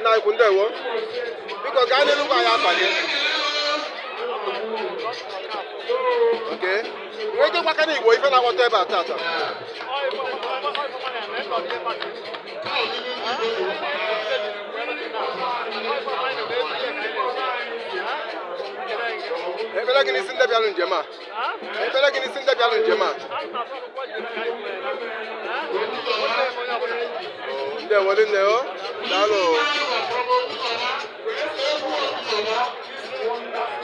nna ukwu ndewo biko gaa n'iru gwa anyị afa gị oke nwee ike gwakwa ndị igbo ife na-akpọtụ ebe a tata ebele gị n'isi ndị bịalụ njem a ebele gị n'isi ndị bịalụ njem a ndewo rinne o daalụ